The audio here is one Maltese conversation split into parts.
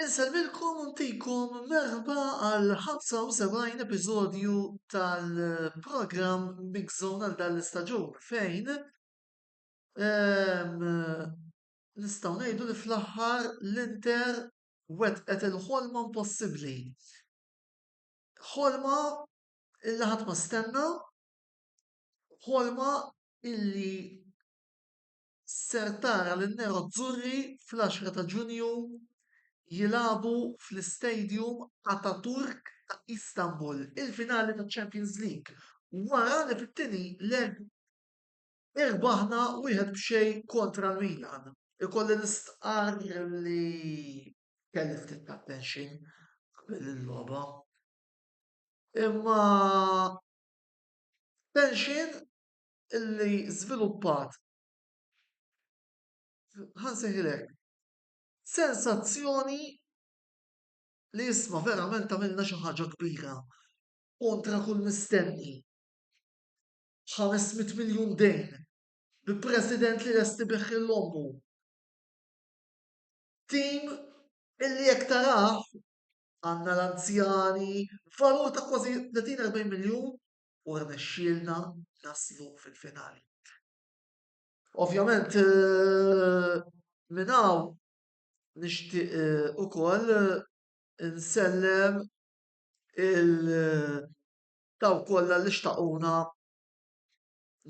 Insellmilkom u ntikom merħba għal 75 episodju tal-programm Mix Zone għal dan l-istaġun fejn ehm, nistgħu ngħidu li fl-aħħar l-Inter wetqet il-ħolma impossibbli. Ħolma illi ħadd ma stenna, ħolma illi ser tara lin-nerozzurri fl-10 ta' Ġunju jilagħbu fl-Istadium Ataturk ta' Istanbul il-finali taċ-Champions League wara li fit-tieni leg irbaħna wieħed b'xejn kontra l-Milan. Ikolli nistqarr li kelli ftit ta' tension qabel il-logħba imma tension illi żviluppat ħa nsejħilek sensazzjoni li isma' verament għamilna xi ħaġa kbira kontra kull mistenni. Ħames mitt miljun dejn bi president li lest ibigħ lil ommu. Tim illi jekk tarah għandna l-anzjani valur ta' kważi 30-40 miljun u rnexxielna naslu fil-finali. Ovvjament minn hawn nixtieq ukoll insellem il dawk kollha li xtaquna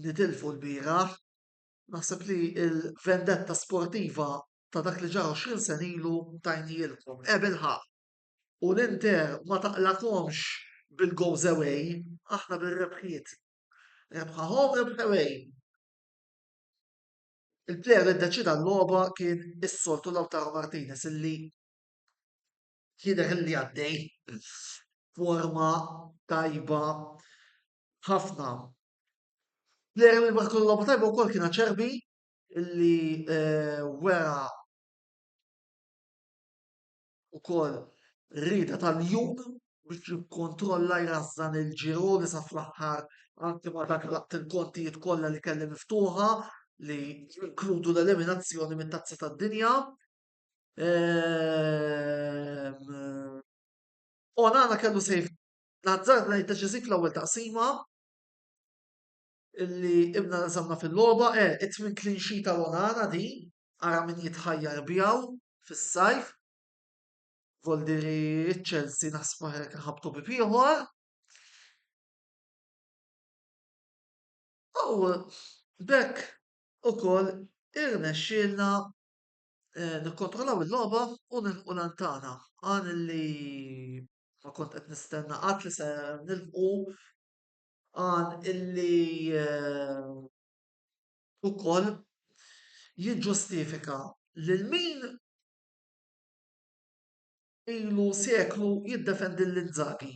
nitilfu lbieraħ. Naħseb li l-vendetta sportiva ta' dak li ġara 20 sena ilu tajnielkom. Ebilħaqq! u l-Inter ma taqlagħkomx bil-goals away, aħna bir-rebħiet. Rebħa home, rebħa away. Il-plejer li ddeċida l-logħba kien is-soltu Lautaro Martinez illi jidher li għaddej forma tajba ħafna. Plejer li maħkun logħba tajba wkoll kien ċerbi illi eh, wera ukoll rieda tal-jum biex jikkontrolla jrażżan il-ġiroli sa fl-aħħar anki ma dak laqt il-kontijiet kollha li kelli miftuħa li jinkludu l-eliminazzjoni mit-Tazza tad-Dinja. Onana kellu sejf nazzar ngħid deċiżiv fl-ewwel taqsima illi ibna nżamna fil-logħba, eh, it-tmien clean sheet tal-Onana din ara min jitħajjar bjaw fis-sajf, vol diri ċ-Chelsea naħsbu hekk nħabtu bib ieħor. U bekk ukoll irnexxielna eh, nikkontrollaw il-logħba u nilħu lantana. Għan li ma kont qed nistenna qatt li se nilħu għan illi eh, ukoll jiġġustifika lil min ilu seklu jiddefendi lil Inzaghi.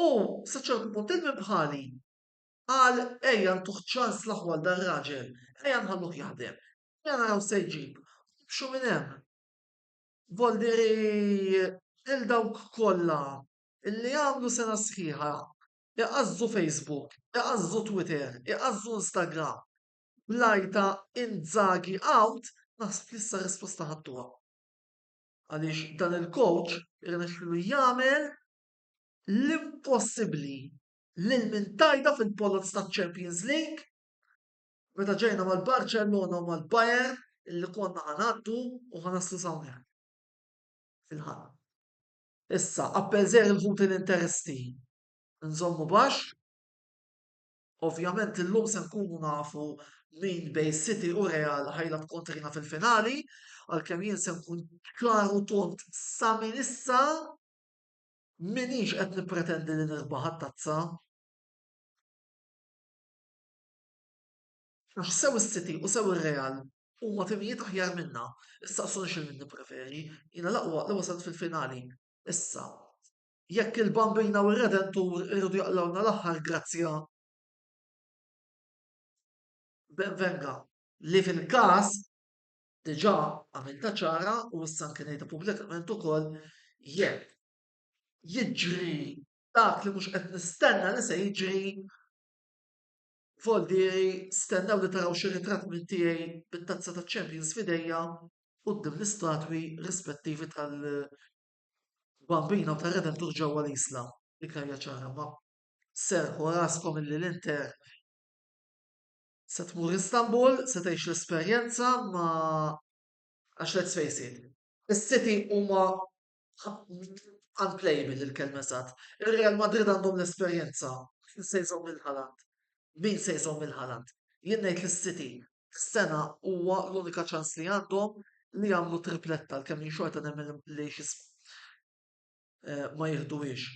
U sa ċertu punt il-min bħali qal ejja ntuh ċans l-aħwa għal dan raġel, ejja nħalluh jaħdem, ejja naraw se jġib, nimxu minn hemm. Voldiri lil dawk kollha li għamlu sena sħiħa Igħażżu Facebook, igħażżu Twitter, igħażżu Instagram. Bl-għajr ta' Inzaghi out naħseb li issa r-risposta ħadtuha. Għaliex dan il-coach irnexxielu jagħmel l-impossibbli lil min tajda fil-poloz taċ-Champions League. Meta ġejna mal-Barċellona u mal-Bayern illi konna ħa ngħaddu u ħa naslu s'hawnhekk. Fil-ħadd. Issa, appell żgħir il-ħut l-interesti nżommu baxx. Ovvjament illum se nkunu nafu min bejn City u Real ħajlab kontrina fil-finali, għalkemm jien se nkun ċar u tond sa minn issa m'iniex qed nippretendi li nirbaħ għat-tazza. Aħ sew is-City u sew ir-Real huma timijiet aħjar minna. Issaqsuni x'ilmin nippreferi. Jiena l-aqwa li wasalt fil-finali. Issa, jekk il-Bambina u r-Redentur iridu jaqlgħulna l-aħħar grazzja, ben venga. Li fil-każ, diġà għamiltha ċara u issa anki ngħidha pubblikament ukoll, jekk jiġri dak li mhux qed nistenna li se jiġri, Voldieri, stennew li taraw xi ritratt minn tiegħi bit-Tazza taċ-Champions f'idejja quddiem l-istatwi rispettivi tal-Bambina u tar-Redentur ġewwa l-Isla, Vikarja Ċara, imma serrħu raskom illi l-Inter se tmur Istanbul, se tgħix l-esperjenza ma għax let's face it, is-City huma unplayable il-kelma sad. Ir-Real Madrid għandhom l-esperjenza. Min se jżomm il-ħalant? Min se jżomm il-ħalant? Jien ngħid l-City. Is-sena huwa l-unika ċans li għandhom li jagħmlu tripletta l kemm xorta nemmen li xisma eh, ma jihduwiex.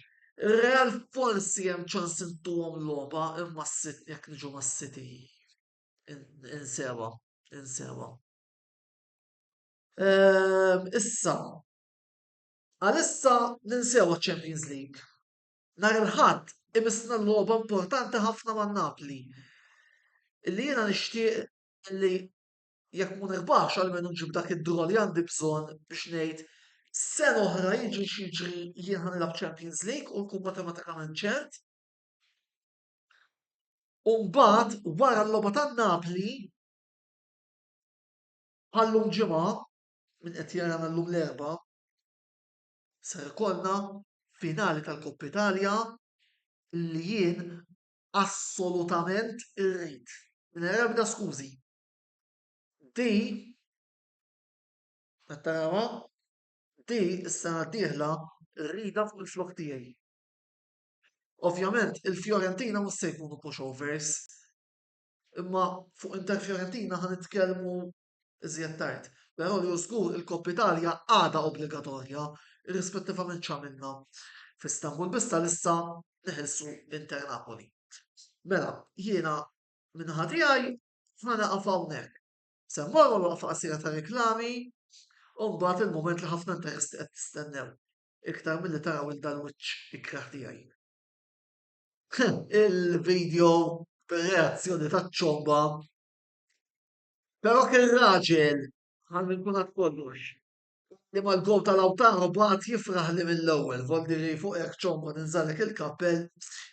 Ir-Real forsi hemm ċans intuhom logħba imma s-sit jekk niġu mas-City. Insewa, insewa. Ehm, issa, għalissa ninsew ċ-Champions League. Nar il-ħadd imissna l-logħba importanti ħafna ma' Napli. Illi jiena nixtieq li jekk mu nirbaħx għalmenu nġib dak id-draw li għandi bżonn biex ngħid sen oħra jiġri xieġri jien ħanilab Champions League u nkun matematikament ċert. Umbat, wara l-loba ta' Napli, Bħal llum Ġimgħa, min qed jarana llum l-Erbgħa, ser ikollna finali tal-Coppa Italia li jien assolutament irrid, mingħajr ebda skużi. Di, qed tarawha, di s-sena d-dieħla rridha fuq il-flokk tiegħi. Ovvjament il-Fiorentina mhux se jkunu pushovers, Imma fuq Inter Fiorentina ħa nitkellmu iżjed tard. Però li hu żgur il-Koppa Italja għadha obbligatorja irrispettivament x'għamilna f'Istanbul biss għalissa neħilsu Inter Napoli. Mela, jiena minn ħadd tiegħi ħa naqaf hawnhekk. Se mmorru waqfa qasira ta' reklami u mbagħad il-mument li ħafna interess qed tistennew iktar milli taraw il dal-wiċċ ikrah tiegħi. il-video reazzjoni ta' ċomba. Però kien raġel għal nkun għad kollox. Li mal gol tal-awtaru bat jifraħ li mill-ewwel, volli li fuq hekk ċomba ninżalek il-kappell,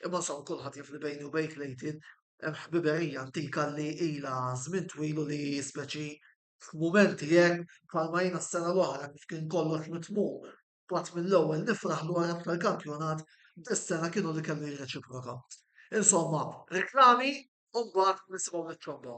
imma son kulħadd jifli bejni u bejk lejtin hemm ħbiberija antika li ilha żmien twilu li speċi f'mumenti hekk bħalma jiena s-sena l-oħra kif kien kollox mitmum B'għadd mill-ewwel nifraħ dwar hekk tal-kampjonat, dis-sena kienu li kellu jirreċiproka. Insomma, riklami u mbagħad nisimgħu lit-tromba.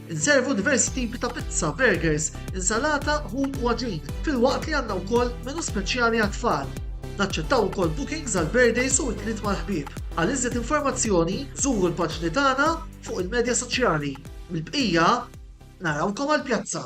Inservu diversi tipi ta' pizza, burgers, insalata, ħut u għaġin, filwaqt li għandna wkoll menu speċjali għat-tfal. Naċċettaw ukoll bookings għal birthdays u għidliet mal-ħbieb. Għal iżjed informazzjoni, żuru l-paġni tagħna fuq il-medja soċjali. Mill-bqija, narawkom għall-pjazza!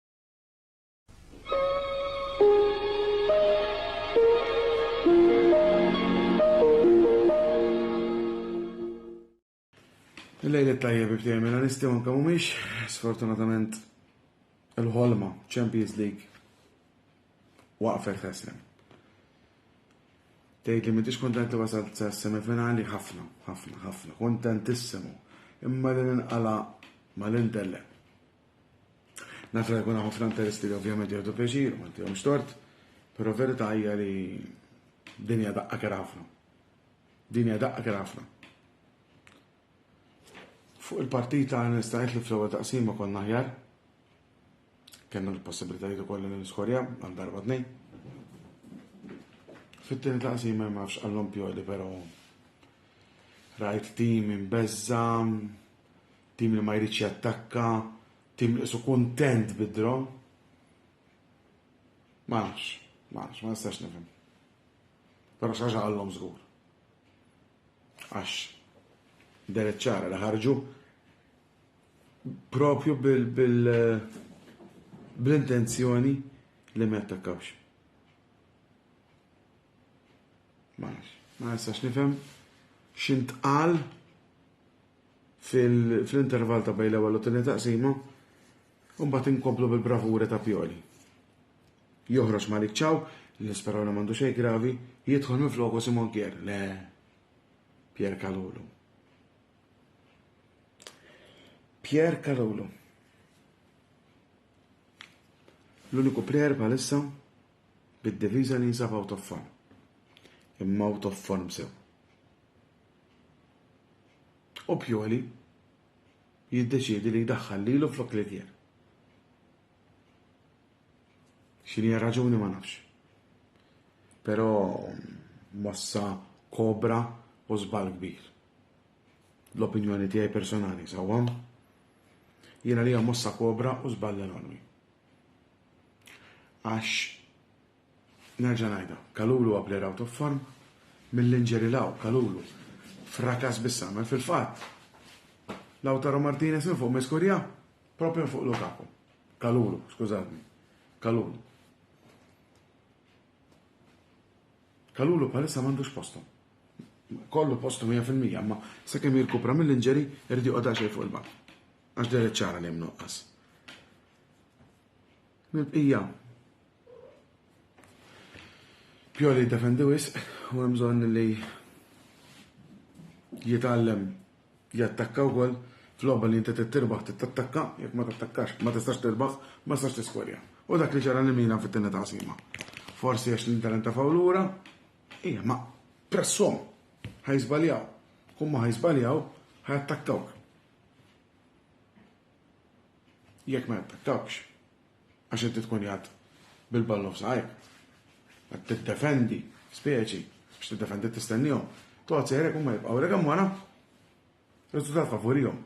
Il-lejli tajja bi ftejn mela nistgħu anke mhumiex sfortunatament il-ħolma Champions League waqfet ħesem. Tgħid li m'intix kontent li wasalt sa semifinali ħafna, ħafna, ħafna, kontentissimu. Imma li ninqala mal-intellem. Naf li jkun ħafna interessi li ovvjament jieħdu pjaċir, ma ntihomx tort, però verità hija li dinja daqqa kera ħafna. Dinja daqqa kera ħafna. Fuq il-partita nistajt li fl-ewwel taqsima konna ħjar. Kenna l-possibilitajiet ukoll li niskorja għal darba tnejn. Fit-tieni taqsima ma nafx għallhom pjodi però rajt tim imbezza, Tim li ma jridx jattakka, tim li qisu kuntent bid-draw. Ma nafx, ma nafx, ma nistax nifhem. Però xi ħaġa qalhom żgur. Għax dan iċ-ċara li ħarġu propju bil-intenzjoni li ma jattakkawx. Ma nafx, ma nistax nifhem x'intqal fl-intervall ta' bejn l-ewwel u t-tieni taqsima u mbagħad inkomplu bil-bravura ta' Pioli. Joħroġ Malik Ciao, li nisperaw li m'għandu xejn gravi, jidħol minn floku Simon Kier, le Pier Kalulu. Pier Kalulu. L-uniku plejer bħalissa bid-diviża li jinsab out of form. Imma out of form sew. u Pioli jiddeċiedi li jdaħħal lilu flok Livier. X'inhi raġuni ma nafx. Però mossa kobra u żball kbir. L-opinjoni tiegħi personali sawwa. Jiena li mossa kobra u żball enormi. Għax Nerġa' ngħidha, Kalulu a player out of form, mill-injury 'l hawn Kalulu frakas bis-sahmel fil-fatt Lautaro Martinez minn fuq ma jskurja proprju minn fuq Lukaku. Kalulu, skużawni. Kalulu. Kalulu bħalissa m'għandux postom. Kollu postom 100% imma sakemm jirkupra mill-injury irid joqgħod għaxej fuq il-bank. Għax deret ċara li hemm nuqqas. Mill-bqija. Pioli jiddefendi wisq u hemm bżonn li jitgħallem jattakka wkoll f'logħba li inti trid tirbaħ trid tattakka, jekk ma tattakkax ma tistax tirbaħ, ma tistax tiskorja. U dak li ġara li Milan fit-tieni taqsima. Forsi għax l-Inter intafaw lura, hija ma pressom ħajżbaljaw. Kumma ħajżbaljaw ħajattakkawk. Jekk ma jappettawkx, għax inti tkun jgħad bil-ballun f'saqajk, qed tiddefendi speċi biex tiddefendi tistennihom, toqgħod sejrek huma jibqgħu rek hemm wara, riżultat favurihom.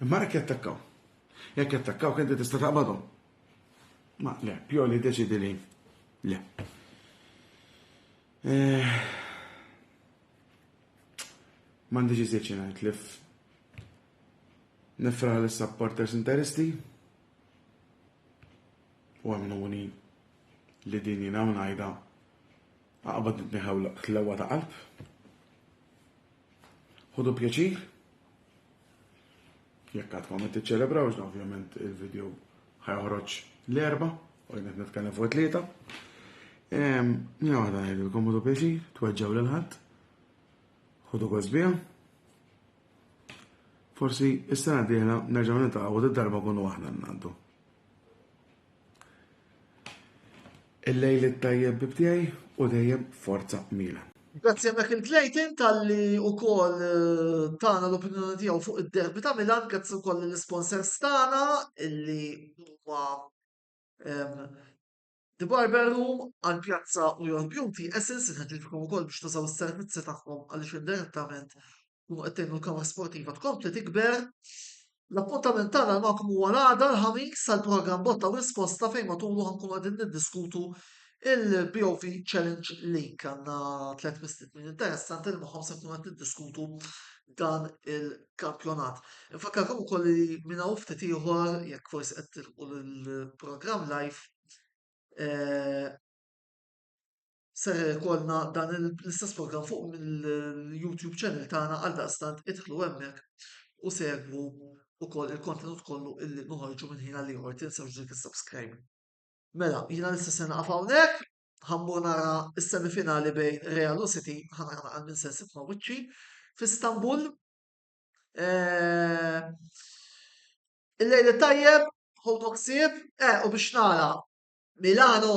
Imma jekk jattakkaw. Jekk jattakkaw kien tista' taqbadhom. Ma le, Pioli deċidi li le. Eh, M'għandix iżjed xi ngħid li nifraħ lis supporters interisti u għamluni li din jina u najda għaqbad nitniħaw l-lewa ta' qalb. Ħudu pjaċir, Jekk għad ma tiċċelebrawx dan ovvjament il-video ħajħroġ l-erba u jien qed nitkellem fuq tlieta. Nina waħda ngħidilkom u pjaċi, tweġġaw lil ħadd. Ħudu kosbija. Forsi is-sena dieħla nerġgħu nitaqgħu darba kunu aħna ngħaddu. Il-lejl it-tajjeb bibdej u dejjem forza Milan. Grazzi hemmhekk lil Clayton talli wkoll tana l-opinjoni tiegħu fuq id-derby ta' Milan, grazzi wkoll lill-isponsors tagħna illi huma The Barber Room għal pjazza u Your Beauty Essence inħeġġiġkom ukoll biex tużaw is-servizzi tagħhom għaliex indirettament tkunu qed tgħinu l-kawża sportiva tkompli tikber. L-appuntament tagħna magħkom huwa l-għada l-ħamis għal programm botta u risposta fejn matulu ħankunu qegħdin niddiskutu il-BOV Challenge League għandna tliet mistednin interessanti li magħhom se nkunu qed niddiskutu dan il-kampjonat. Infakkarkom ukoll li minn hawn ftit ieħor jekk forsi qed tilqu l-programm live eh, Ser ikollna dan l-istess programm fuq mill-YouTube channel tagħna għal daqstant idħlu hemmhekk u segwu wkoll il-kontenut kollu illi noħorġu minn ħin għal ieħor tinsewx dik is-subscribe. Mela, jiena nista' se naqaf hawnhekk, ħammur nara s-semifinali bejn Real u City, ħana għal minn se sibna wiċċi f'Istanbul. Eh, Il-lejl tajjeb, ħodok sib, eh, u biex nara Milano